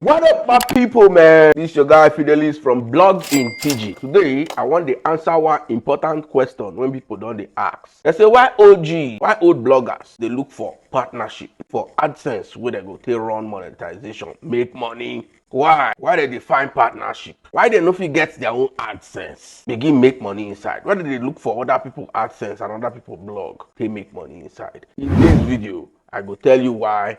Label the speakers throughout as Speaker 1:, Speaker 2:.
Speaker 1: What up my people man, this your guy Fidelis from Blog in TG. Today I want to answer one important question when people don't they ask. They say why OG, why old bloggers they look for partnership for AdSense where they go take run monetization, make money. Why? Why they define partnership? Why they no fit get their own AdSense? Begin make money inside. Why do they look for other people AdSense and other people blog? They make money inside. In this video, I go tell you why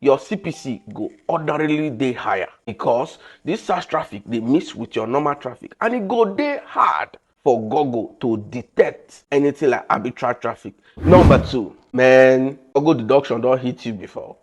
Speaker 1: your CPC go ordinarily dey higher because this SARS traffic dey mix with your normal traffic and e go dey hard for Google to detect anything like arbitrary traffic. Number two, man, Google deduction don hit you before.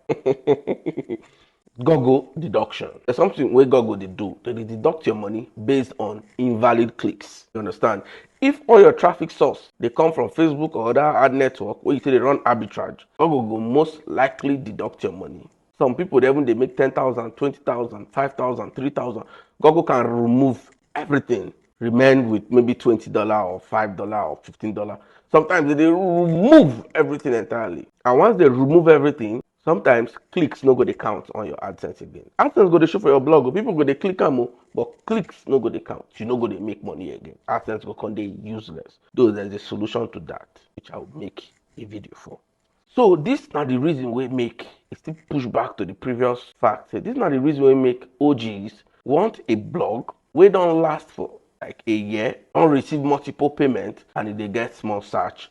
Speaker 1: Google deduction. There's something wey Google dey do. They dey deduct your money based on invalid clicks. You understand? If all your traffic source dey come from Facebook or other ad network wey you say dey run arbitrage, Google go most likely deduct your money. Some people dey even dey make ten thousand, twenty thousand, five thousand, three thousand. Google can remove everything, remain with maybe twenty dollar or five dollar or fifteen dollar. Sometimes they dey remove everything entirely. And once they remove everything, sometimes clicks no go dey count on your adsense again adsense go dey show for your blog o people go dey click am o but clicks no go dey count you no go dey make money again adsense go come dey useless though there is a solution to that which i will make a video for so this na the reason wey make e still push back to the previous fact say this na the reason wey make og's want a blog wey don last for like a year don receive multiple payment and e dey get small search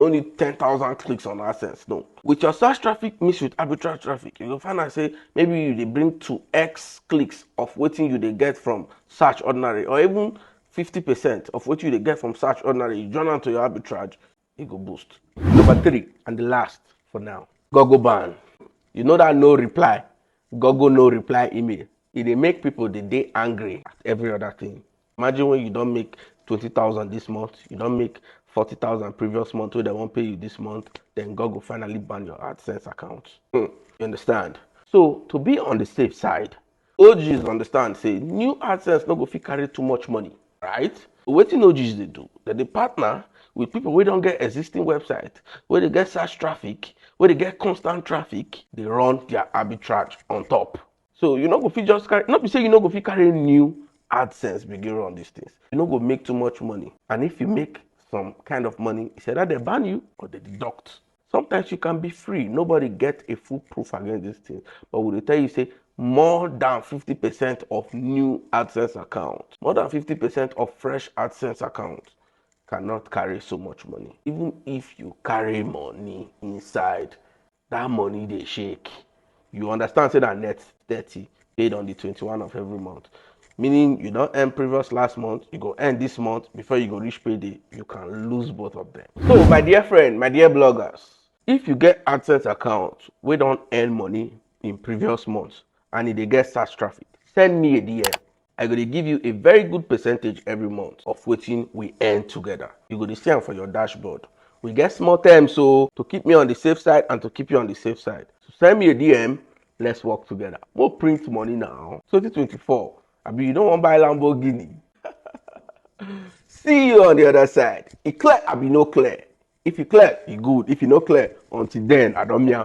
Speaker 1: only 10,000 clicks on AdSense. No. With your search traffic mixed with arbitrary traffic, you go find out say maybe you dey bring 2x clicks of wetin you dey get from search ordinary or even 50% of wetin you dey get from search ordinary, you join am to your arbitrage, e go boost. Number three and the last for now, Google ban. You know that no reply, Google no reply email. E dey make people dey dey angry at every other thing. imagine when you don make twenty thousand this month you don make forty thousand previous month wey dem wan pay you this month then god go finally ban your adsense account hmm, you understand so to be on the safe side og's understand say new adsense no go fit carry too much money right wetin og's dey do dem dey partner with people wey don get existing website wey dey get search traffic wey dey get constant traffic dey run their arbitrage on top So you no go fit just carry, no be say you no go fit carry new AdSense begin run these things. You no go make too much money. And if you make some kind of money, it's either they ban you or they deduct. Sometimes you can be free. Nobody get a full proof against these things. But we will tell you, say, more than 50% of new AdSense accounts, more than 50% of fresh AdSense accounts cannot carry so much money. Even if you carry money inside that money dey shake you understand say na net thirty paid on the twenty-one of every month meaning you don earn previous last month you go earn this month before you go reach payday you can lose both of them so my dear friend my dear bloggers if you get adsense account wey don earn money in previous months and e dey get search traffic send me a dm I go dey give you a very good percentage every month of wetin we earn together. You go dey see am for your dashboard. We get small terms so to keep me on the safe side and to keep you on the safe side. So send me a DM, let's work together. We'll print money now. 2024, I mean, you don't want to buy Lamborghini. see you on the other side. It clear, I be no clear. If you clear, you good. If you no clear, until then, I don't mean.